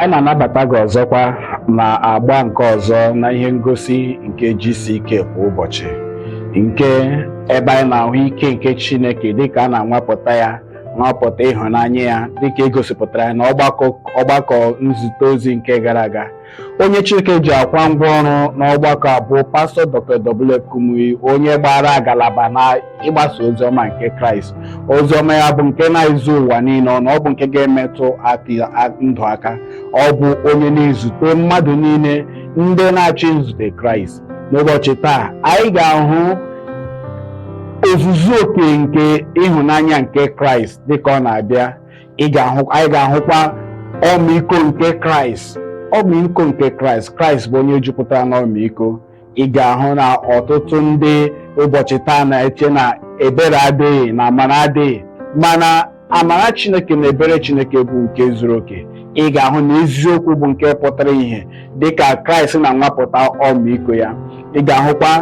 anyị na-anabata gị ọzọkwa na agba nke ọzọ na ihe ngosi nke GCK kwa ụbọchị nke ebe anyị na-ahụ ike nke Chineke dịka a na-anwapụta ya nwapụta ịhụnanya ya dịka egosipụtara ya na ọgbakọ nzute ozi nke gara aga Onye Chineke ji akwa ngwa ọrụ n'ọgbakọ a bụ pastọ Dr. W. F. Kumuyi onye gbara agalaba na ịgbasa oziọma nke Kraịst oziọma ya bụ nke na-ezu ụwa niile ọnụ ọ bụ nke ga-emetụ ndụ aka ọ bụ onye na-ezute mmadụ niile ndị na-achọ izute Kraịst n'ụbọchị taa anyị ga-ahụ ozuzu oke nke ịhụnanya nke Kraịst dịka ọ na-abịa anyị ga-ahụkwa ọmịiko nke kraịst ọmịiko nke kraịst kraịst bụ onye jupụtara n'ọmịiko ị ga-ahụ na ọtụtụ ndị ụbọchị taa na-eche na ebere adịghị na amara adịghị mana amara chineke na ebere chineke bụ nke zuru oke ị ga-ahụ na eziokwu bụ nke pụtara ìhè dị ka kraịst na-anwapụta ọmịiko ya ị ga-ahụkwa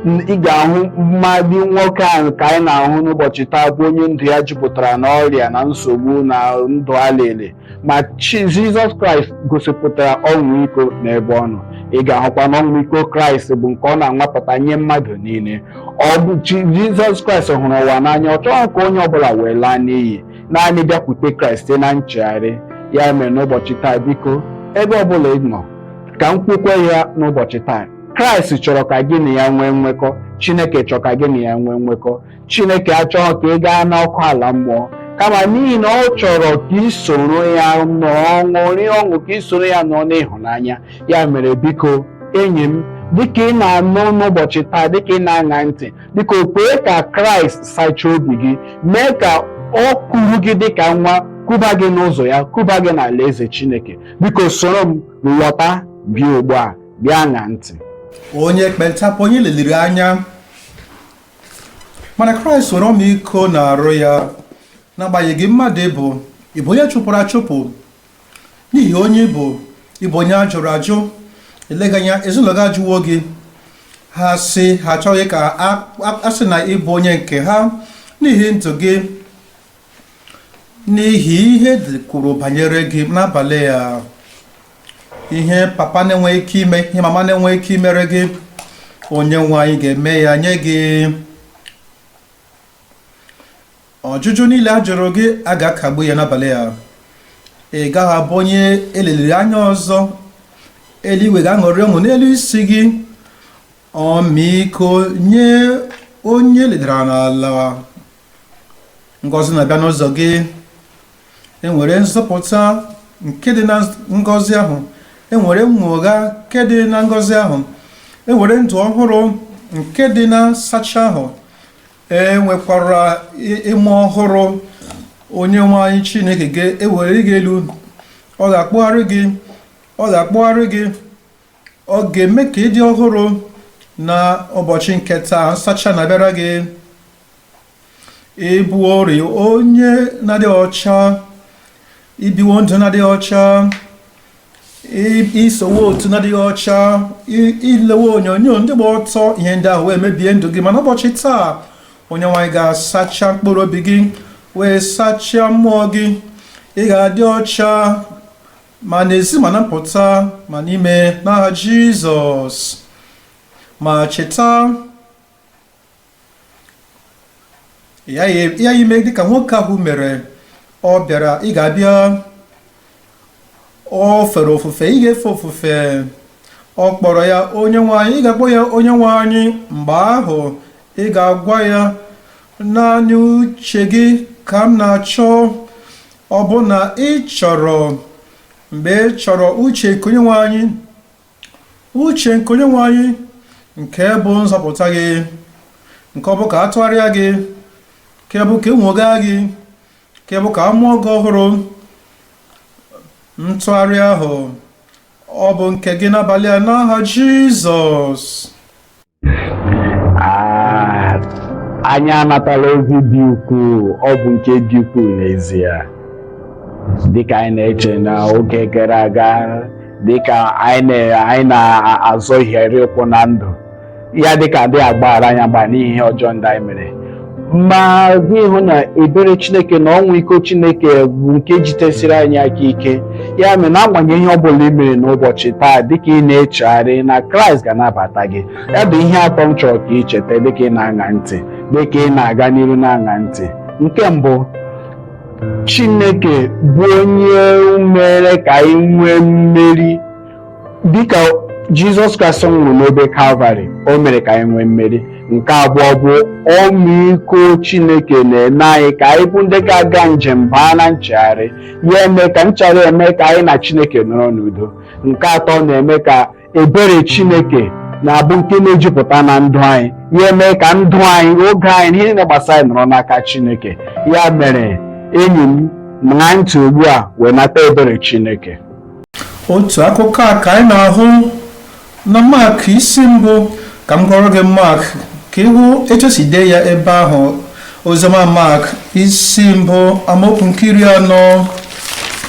ị ga-ahụ mmadụ nwoke ahụ ka anyị na-ahụ n'ụbọchị taa bụ onye ndụ ya jupụtara n'ọrịa na nsogbu na ndụ alele ma jizọs kraịst gosipụtara ọmịiko n'ebe ọ nọ ị ga-ahụkwa na ọmịiko kraịst bụ nke ọ na-anwapụta nye mmadụ niile ọ bụ jizọs kraịst hụrụ ụwa n'anya ọ chọghị ka onye ọbụla wee laa n'iyi naanị bịakwute kraịst site na nchegharị ya mere n'ụbọchị taa biko ebe ọbụla ị nọ ka m kwukwe ya n'ụbọchị taa kraịst chọrọ ka gị na ya nwee nwekọ chineke chọrọ ka gị na ya nwee nwekọ chineke achọghị ka ị gaa n'ọkụ ala mmụọ kama n'ihi na ọ chọrọ ka ị soro ya nọọ ṅụrịa ọṅụ ka ị soro ya nọọ n'ịhụnanya ya mere biko enyi m dịka ị na-anụ n'ụbọchị taa dịka ị na-aṅa ntị biko kwee ka kraịst sachaa obi gị mee ka ọ kuru gị dịka nwa kuba gị n'ụzọ ya kuba gị n'ala eze chineke biko soro m lọta bịa ugbu a bịa ṅa ntị onye ekpenta bụ onye e leliri anya mana kraịst nwere ọmịiko n'arụ ya n'agbanyeghị mmadụ ịbụ ịbụ onye a chụpụrụ achụpụ n'ihi onye ị bụ ị bụ onye a jụrụ ajụ eleghị anya ezinụlọ gị ajụwo gị ha sị ha achọghị ka a- a- a sị na ị bụ onye nke ha n'ihi ndụ gị n'ihi ihe dị kwuru banyere gị n'abalị a ihe papa na-enweghị ike ime ihe mama na-enweghị ike imere gị onye nwe anyị ga-eme ya nye gị Ọjụjụ niile a jụrụ gị a ga-akagbu ya n'abalị a. Ị gaghị abụ onye eleliri anya ọzọ. Eluigwe ga-aṅụrị ọṅụ n'elu isi gị. Ọmịiko nye onye e ledara n'ala. Ngọzi na-abịa n'ụzọ gị. E nwere nzọpụta nke dị na ngọzi ahụ. E nwere nnwogha nke dị na ngọzi ahụ. E nwere ndụ ọhụrụ nke dị na nsacha ahụ. e nwekwara ime ọhụrụ onye nwe anyị chineke ga-ewere gị elu ọ ga-akpụgharị gị ọ ga-akpụgharị gị ọ ga-eme ka ị dị ọhụrụ na ụbọchị nke taa nsacha na-abịara gị ị bụworị onye na-adịghị ọcha i biwo ndụ na-adịghị ọcha i sowe otu na-adịghị ọcha i lewe onyonyo ndị gba ọtọ ihe ndị ahụ wee mebie ndụ gị mana ụbọchị taa onye nwe anyị ga-asacha mkpụrụ obi gị wee sachaa mmụọ gị ị ga-adị ọcha ma n'ezi ma na mpụta ma n'ime n'aha jizọs ma cheta ị ga-eme dịka nwoke ahụ mere ọ bịara ị ga-abịa o fere ofufe ị ga-efe ofufe ọ kpọrọ ya onye nwe anyị ị ga-akpọ ya onye nwe anyị mgbe ahụ ị ga-agwa ya naanị uche gị ka m na-achọ ọ bụ na ị chọrọ mgbe ị chọrọ uche nke onye nwe anyị Uche nke Onyenwe anyị nke bụ nzọpụta gị nke ọ bụ ka a tụgharịa gị nke bụ ka e nwoghaa gị nke bụ ka a mụọ gị ọhụrụ ntụgharị ahụ ọ bụ nke gị n'abalị a n'aha Jizọs Ah, anyị anatala ozi dị ukwuu ọ bụ nke dị ukwuu n'ezie dịka anyị na-eche na oge gara aga dịka anyị na- anyị na-azọhiere ụkwụ na ndụ ya dịka a dịghị agbaghara anyị agba n'ihi ihe ọjọọ ndị anyị mere ma gị hụ na ebere chineke na ọmịiko chineke bụ nke jitesiri anyị aka ike ya mere n'agbanyeghị ihe ọbụla i mere n'ụbọchị taa dịka ị na-echegharị na kraịst ga-anabata gị ya bụ ihe atọ m chọrọ ka ị cheta dịka ị na-aṅa ntị dịka ị na-aga n'iru na-aṅa ntị nke mbụ chineke bụ onye mere ka anyị nwee mmeri dịka jizọs kraịst nwụrụ n'obe kalvarị o mere ka anyị nwee mmeri nke abụọ bụ ọmịiko chineke na-eme anyị ka anyị bụ ndị ga-aga njem baa na nchegharị ya eme ka nchegharị eme ka anyị na chineke nọrọ n'udo nke atọ na-eme ka ebere chineke na-abụ nke na-ejupụta na ndụ anyị ya eme ka ndụ anyị oge anyị ihe niile gbasara anyị nọrọ n'aka chineke ya mere enyi m ṅaa ntị ugbu a wee nata ebere chineke otu akụkọ a ka anyị na-ahụ na mak isi mbụ ka m gụọrọ gị mak ka ị hụ etu e si dee ya ebe ahụ oziọma mak isi mbụ amaokwu nke iri anọ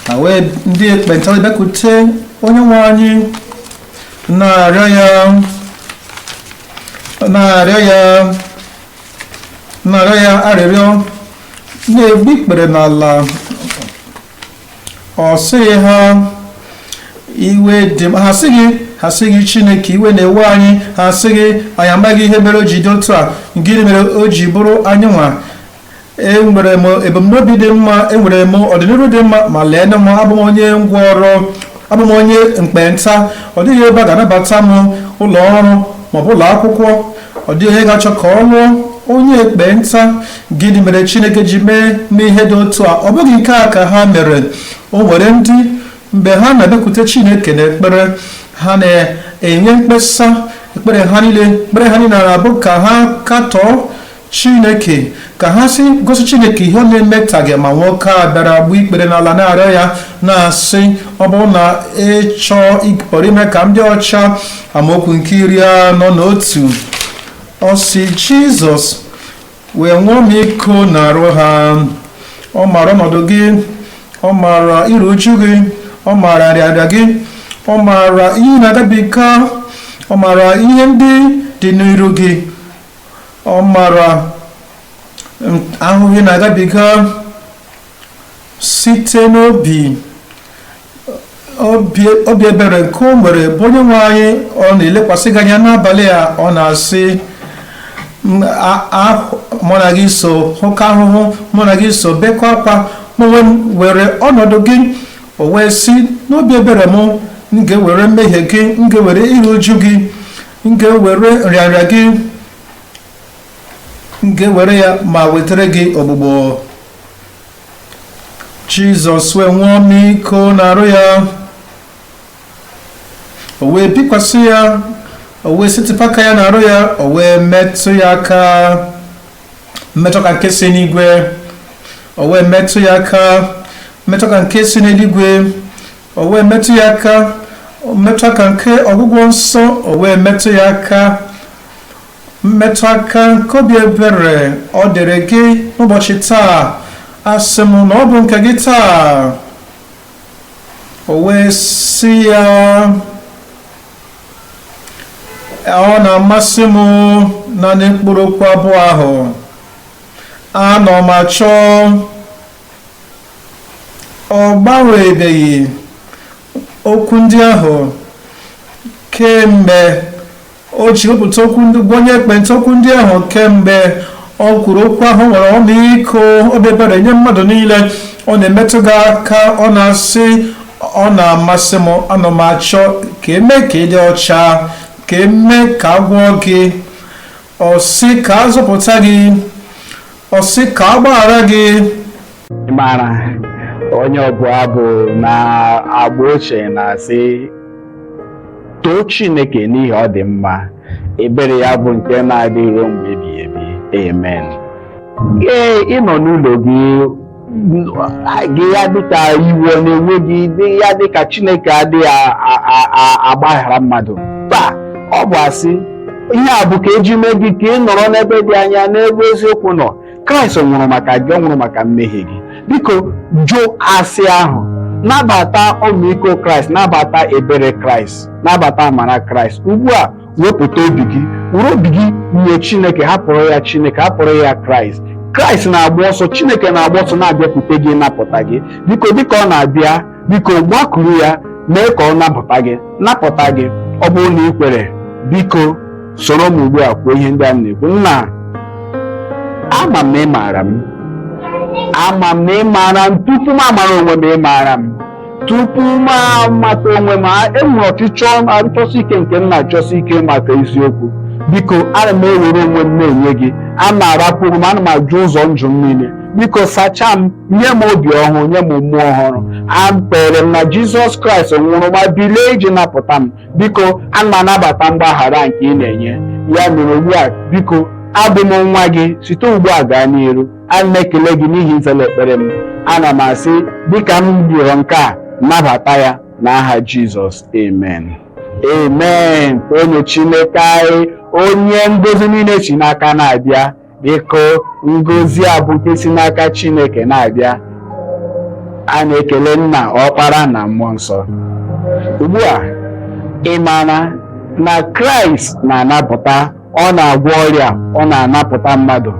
na wee ndị ekpenta wee bịakute onye nwe anyị na-arịọ ya arịrịọ na-egbu ikpere n'ala ọ sịghị ha iwe dị m ha sịghị ha sịghị chineke iwe na-ewe anyị ha sịghị anyị amaghị ihe mere o ji dị otu a gịnị mere o ji bụrụ anyịnwa enwere m ebumnobi dị mma enwere m ọdịnihu dị mma ma lee nụ m abụ m onye ngwọrọ abụ m onye ekpenta ọ dịghị ebe a ga-anabata m ụlọ ọrụ maọbụ ụlọ akwụkwọ ọ dịghị onye ga-achọ ka ọ lụọ onye ekpenta gịnị mere chineke ji mee m ihe dị otu a ọ bụghị nke a ka ha mere o nwere ndị mgbe ha na-abịakwute chineke n'ekpere ha na-enye mkpesa ekpere ha niile na-abụ ka ha katọọ chineke ka ha si gosi chineke ihe ọ na-emetaghị ma nwoke a bịara gbuo ikpere n'ala na-arịọ ya na-asị ọ bụrụ na ị chọọ ị pụrụ ime ka m dị ọcha amaokwu nke iri anọ na otu ọ sị jizọs wee nwee ọmịiko n'arụ ha ọ maara ọnọdụ gị ọ maara iru uju gị ọ maara nrịanrịa gị ọ maara ihe ị na-agabiga ọ maara ihe ndị dị n'iru gị ọ maara ahụhụ ị na-agabiga site n'obi obi ebere nke o nwere bụ onye nwe anyị ọ na-elekwasị gị anya n'abalị a ọ na-asị mụ na gị so hụkọọ ahụhụ mụ na gị so bekọọ akwa m were ọnọdụ gị o wee sị n'obi ebere m m ga-ewere mmehie gị m ga-ewere iru uju gị m ga-ewere nrịanrịa gị m ga-ewere ya ma wetara gị ọgwụgwọ jizọs wee nwee ọmịiko n'arụ ya o wee bikwasị ya o wee setịpụ aka ya n'arụ ya o wee metụ ya aka mmetụ aka nke si n'igwe o wee metụ ya aka mmetụ aka nke si n'eluigwe o wee metụ ya aka mmetụ aka nke ọgwụgwọ nsọ o wee metụ ya aka mmetụ aka nke obi ebere ọ dịrị gị n'ụbọchị taa asị m na ọ bụ nke gị taa o wee sị ya ọ na-amasị m naanị mkpụrụ okwu abụọ ahụ ana m achọ ọ gbanwebeghị okwu ndị ahụ kemgbe o ji wepụta okwu ndị gwa onye ekpenta okwu ndị ahụ kemgbe o kwuru okwu ahụ nwere ọmịiko obi ebere nye mmadụ niile ọ na-emetụ gị aka ọ na-asị ọ na-amasị m ana m achọ ka e mee ka ị dị ọcha ka e mee ka a gwọọ gị ọ sị ka a zọpụta gị Ọ sị ka a gbaghara gị. Ị maara onye ọbụ abụ n'agba ochie na-asị too Chineke n'ihi ọ dị mma ebere ya bụ nke na-adị ruo mgbe ebighị ebi amen ee ị nọ n'ụlọ gị gị ya dịka iwe ọ na-ewe gị ya dịka chineke adịghị a- a- a- a- agbaghara mmadụ mba ọ bụ asị ihe a bụ ka eji mee gị ka ị nọrọ n'ebe dị anya n'ebe eziokwu nọ kraịst nwụrụ maka gị ọ nwụrụ maka mmehie gị biko jụ asị ahụ nabata ọmịiko kraịst nabata ebere kraịst nabata amara kraịst ugbu a wepụta obi gị were obi gị nye chineke hapụrụ ya chineke hapụrụ ya kraịst kraịst na-agba ọsọ chineke na-agba ọsọ na-abịakwute gị napụta gị biko dịka ọ na-abịa biko gbakuru ya mee ka ọ napụta gị napụta gị ọ bụrụ na ị kwere biko soro m ugbu a kwuo ihe ndị a m na-ekwu nna ama m na ị maara m ama m na ị maara m tupu m amara onwe m ị maara m tupu m amata onwe m a- enwere ọchịchọ achọsi ike nke m na-achọsi ike maka eziokwu biko ana m ewere onwe m na-enye gị ana m arapụ onwe m ana m ajụ ụzọ njọ m niile biko sachaa m nye m obi ọhụrụ nye m mmụọ ọhụrụ ekwere m na jizọs kraịst nwụrụ ma bilie iji napụta m biko ana m anabata mgbaghara nke ị na-enye ya mere ugbu a biko abụ m nwa gị site ugbu a gaa n'iru ana m ekele gị n'ihi na ị zaala ekpere m ana m asị dịka m rịọrọ nke a nabata ya n'aha jizọs amen amen onye chineke anyị onye ngozi niile si n'aka na-abịa biko ngozi a bụ nke si n'aka chineke na-abịa a na-ekele nna ọkpara na mmụọ nsọ ugbu a ị maara na kraịst na-anapụta ọ na-agwọ ọrịa ọ na-anapụta mmadụ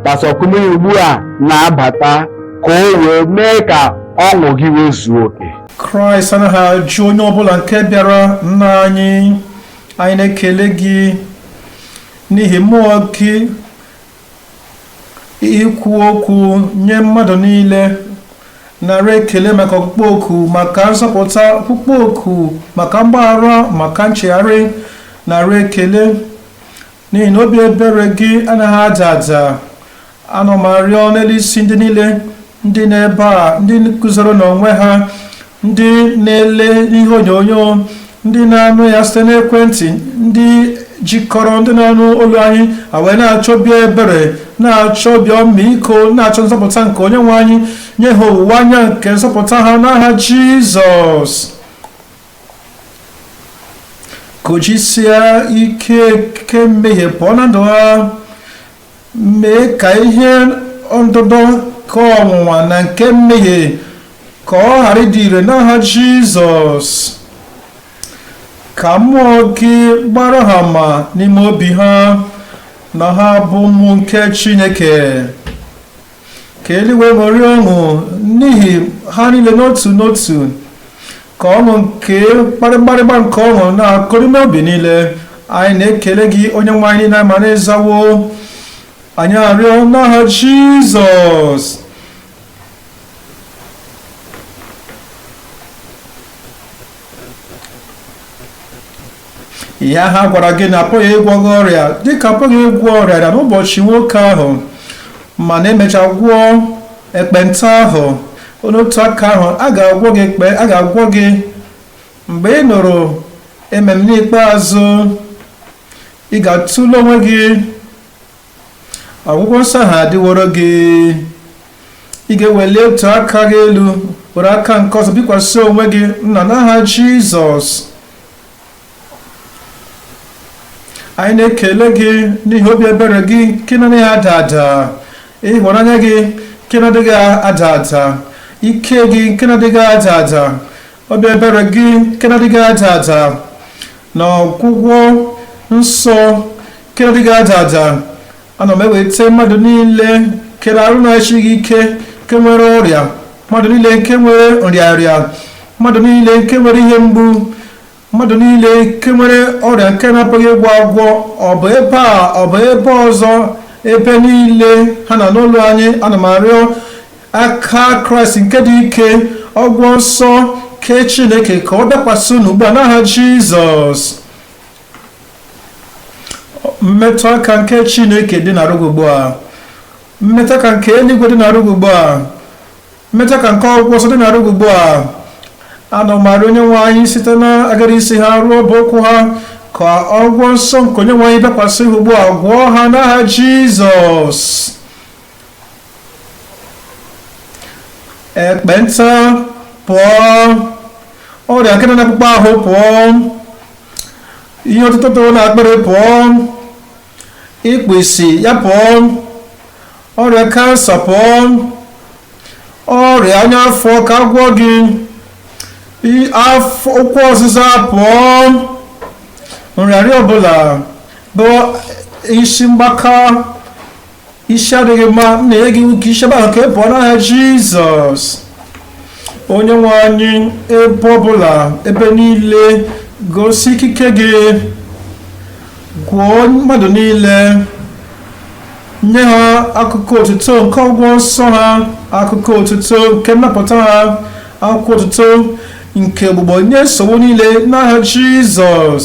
pastor kumuyi ugbu a na-abata ka o wee mee ka ọṅụ gị wee zuo oke kraịst anaghị ajụ onye ọbụla nke bịara nna anyị anyị na-ekele gị n'ihi mmụọ gị ikwu okwu nye mmadụ niile nara ekele maka ọkpụkpọ oku maka nzọpụta ọkpụkpọ oku maka mgbaghara maka nchegharị nara ekele n'ihi na obi ebere gị anaghị ada ada ana m arịọ n'elu isi ndị niile ndị nọ ebe a ndị guzoro n'onwe ha ndị na-ele ihe onyonyo ndị na-anụ ya site n'ekwentị ndị jikọrọ ndị na-anụ olu anyị wee na-achọ obi ebere na-achọ obi ọmịiko na-achọ nzọpụta nke onye nwe anyị nye ha owuwe anya nke nzọpụta ha n'aha jizọs kụjisie ike nke mmehie pụọ na ndụ ha Mee ka ihe ọdụdọ nke ọnwụnwa na nke mmehie ka ọ ghara ịdị ire n'aha Jizọs. Ka mmụọ gị gbaara ha ama n'ime obi ha na ha bụ ụmụ nke Chineke. ka eluigwe ṅụrịa ọṅụ n'ihi ha niile n'otu n'otu ka ọṅụ nke mgbịrịgba nke ọṅụ na-akụrụ n'obi niile anyị na-ekele gị onye nwe anyị n'ihi na a ma na ị zawo anyị arịọ n'aha jizọs ihe ha gwara gị na apụghị ịgwọ gị ọrịa dịka apụghị ịgwọ ọrịa na n'ụbọchị nwoke ahụ mana e mechaa gwọọ ekpenta ahụ n'otu aka ahụ a ga-agwọ gị ekpe a ga-agwọ gị mgbe ị nụrụ amen ikpeazụ ị ga-atụle onwe gị ọgwụgwọ nsọ ahụ adịworo gị ị ga-eweli otu aka gị elu were aka nke ọzọ bikwasị onwe gị nna n'aha Jizọs anyị na-ekele gị n'ihi obi ebere gị nke na-adịghị ada ada ịhụnanya gị nke na-adịghị ada ada ike gị nke na-adịghị ada ada obi ebere gị nke na-adịghị ada ada na ọgwụgwọ nsọ nke na-adịghị ada ada ana m eweta mmadụ niile nke arụ na-esighị ike nke nwere ọrịa mmadụ niile nke nwere nrịarịa mmadụ niile nke nwere ihe mgbu mmadụ niile nke nwere ọrịa nke na-apụghị ịgwọ agwọ ọ bụ ebe a ọ bụ ebe ọzọ ebe niile ha na-anụ olu anyị ana m arịọ aka kraịst nke dị ike ọgwọ nsọ nke chineke ka ọ dakwasị unu ugbu a n'aha jizọs mmetụ aka nke chineke dị n'arụ gị ugbu a mmetụ aka nke eluigwe dị n'arụ gị ugbu a mmetụ aka nke ọgwọ nsọ dị n'arụ gị ugbu a ana m arịọ onye nwe anyị site n'agara isi ha ruo ọbụ ụkwụ ha ka ọgwọ nsọ nke onye nwe anyị bịakwasị ha ugbu a gwọọ ha n'aha jizọs ekpenta pụọ ọrịa nke dị n'akpụkpọ ahụ pụọ ihe otuto toro n'akpịrị pụọ ikpu isi ya pụọ ọrịa kansa pụọ ọrịa ọnya afọ ka a gwọọ gị ụkwụ ọzịza pụọ nrịarịa ọbụla bụ isi mgbaka isi adịghị mma m na-enye gị iwu ka i si ebe ahụ ka ị pụọ n'aha jizọs onye nwe anyị ebe ọbụla ebe niile gosi ikike gị gwọọ mmadụ niile nye ha akụkọ otuto nke ọgwọ nsọ ha akụkọ otuto nke nnapụta ha akụkọ otuto nke ogbugbo nye nsogbu niile n'aha jizọs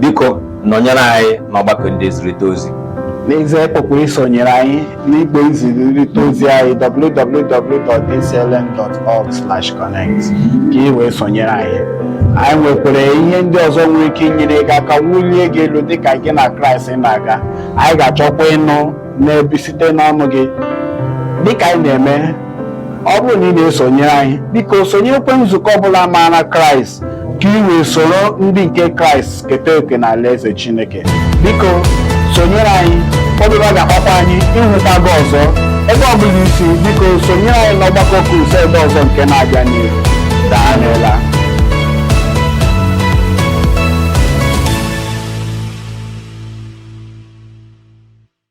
biko nọnyere anyị n'ọgbakọ ndị nzirịta ozi n'ezie ị pụkwara isonyere anyị n'igbe nzirịta ozi anyị www.dclm.org/connect ka ị wee sonyere anyị anyị nwekwara ihe ndị ọzọ nwere ike inyere gị aka wulie gị elu dịka gị na kraịst na-aga anyị ga-achọkwa ịnụ na-ebi site n'ọnụ gị dịka anyị na-eme ọ bụrụ na ị na-esonyere anyị biko sonyekwe nzukọ ọbụla maara kraịst ka ị wee soro ndị nke kraịst keta oke n'alaeze chineke biko sonyere anyị ọbụla ọ ga-akpakwa anyị ịhụta gị ọzọ ebe ọ bụla i si biko sonyere anyị n'ọgbakọ crusade ọzọ nke na-abịa n'ihu daalụla